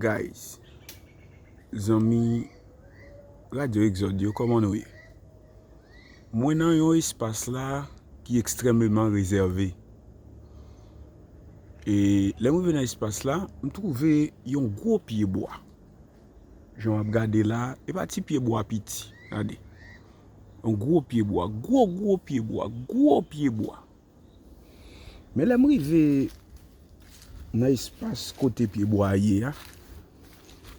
Guys zanmi radio exode yo koman nou ye mwen nan yon espas la ki ekstrememan rezève e lèm rive nan espas la m twouve yon gwo pye bwa jan wap gade la e pa ti pye bwa piti gade yon gwo pye bwa gwo gwo pye bwa gwo pye bwa. Men lè m rive nan espas kote pyebwa a ye a,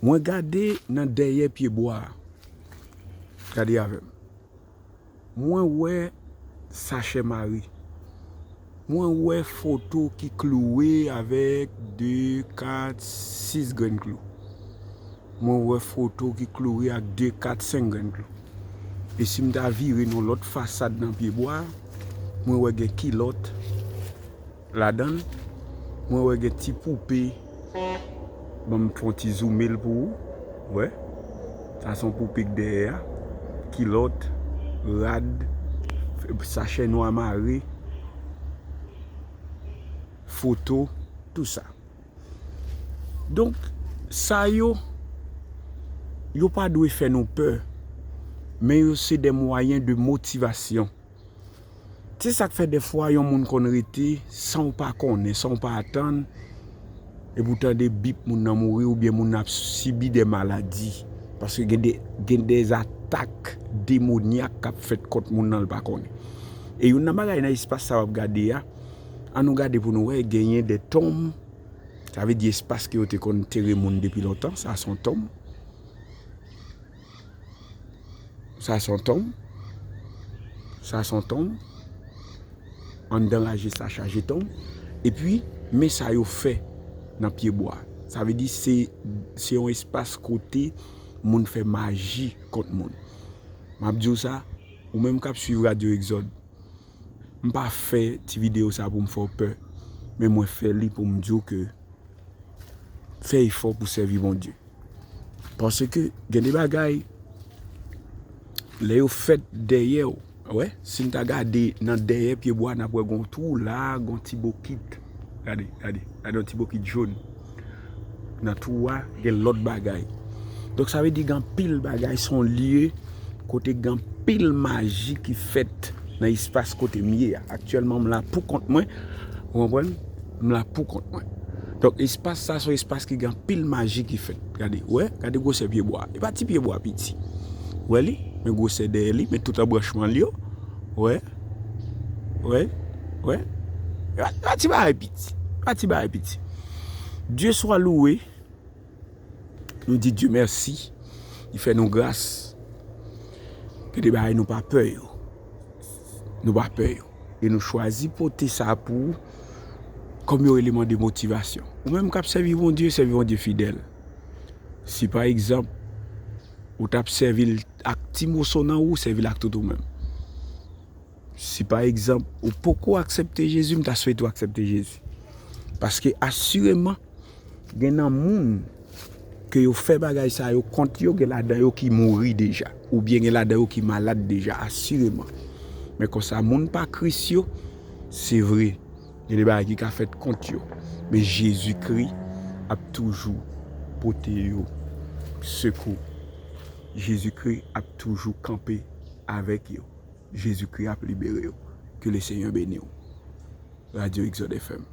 mwen gade nan dèyè pyebwa a. Gade avè m. Mwen wè sachè mari. Mwen wè foto ki klouwe avèk de, kat, sis grenn klou. Mwen wè foto ki kloure ak 2, 4, 5 grenn klou. E si m ta vire nan lòt fasad nan pyebwa a, mwen wè gen kilòt ladan l, mwen wè gen ti poupe, ban m fè yon ti zoume l pou ou, wè, sa se yon poupe k dèyè a, kilòt, rad, sachè nwa mare, foto, tou sa. Donk, sa yo, yo pa dwe fè nou pè, men yo se de mwayen de motivasyon. Se sa k fè defwa yon moun konn rete san w pa konnen, san w pa atann, epi w tande bip moun nan mouri oubyen moun nan ap sibi de maladi, paske gen de, gen de atak demonyak k ap fèt kont moun nan l pa konnen. E youn nan bagay nan espas sa w ap gade a. An nou gade pou nou wè genyen de tonm, sa vle di espas ke yo te konn tere moun depi lontan, sa son tonm, sa son tonm, sa son tonm, anndan rajis la chaje tonm, epi men sa yo fè nan pye bwa. Sa vle di se yon espas kote moun fè maji kont moun. Map diw sa, ou menm kap swiv Radio Exode, M pa fè ti video sa pou m fè w pè, men mwen fè li pou m di w ke fè efò pou sèvi Bondye. Paske gen de bagay lè yo fèt dèyè w, wè, si n ta gade nan dèyè pyebwa n ap wè gen yon twou la, gen yon ti bokit. Gade, gade, gade yon ti bokit joun. Nan twou a, gen lòt bagay. Donk sa vle di gen anpil bagay, se yon lye kote gen anpil maji ki fèt nan espas kote m ye a. Aktyèlman m la pou kont mwen, ou konprann, m la pou kont mwen. Donk espas sa se yon espas ki gen anpil maji ki fèt. Gade, ou wè, gade gwosè pyebwa a. E pa ti pyebwa piti. Ou wè li? Men gwosè dèyè li, men tout anbranchman li yo. Ou wè? Wè, wè, pa ti bagay piti, pa ti bagay piti. Dye swa louwe, nou di Dye mèsi, li fè nou gras, gen de bagay nou pa pè yo, nou pa pè yo. E nou chwazi pote sa pou ou, kòm yon eleman de motivasyon. Ou menm kap sèvi Bondye, sèvi Bondye fidèl. Si pa egzanp. Ou tap sèvil ak ti moso nan ou sèvil ak tout ou menm. Si pa egzanp ou poko aksepte Jezi m ta swete ou aksepte Jezi. Paske asireman gen nan moun ke yo fè bagay sa yo kont yo gen ladan yo ki mouri deja. Ou byen gen ladan yo ki malad deja asireman. Men konsa moun pa kris yo se vre. Gen de bagay ki ka fèt kont yo, men Jezi Kri ap toujou pote yo sekou. Jezi Kri ap toujou kanpe avèk yo. Jezi Kri ap libere yo. Ke le Senyè beni w. Radio Exode FM.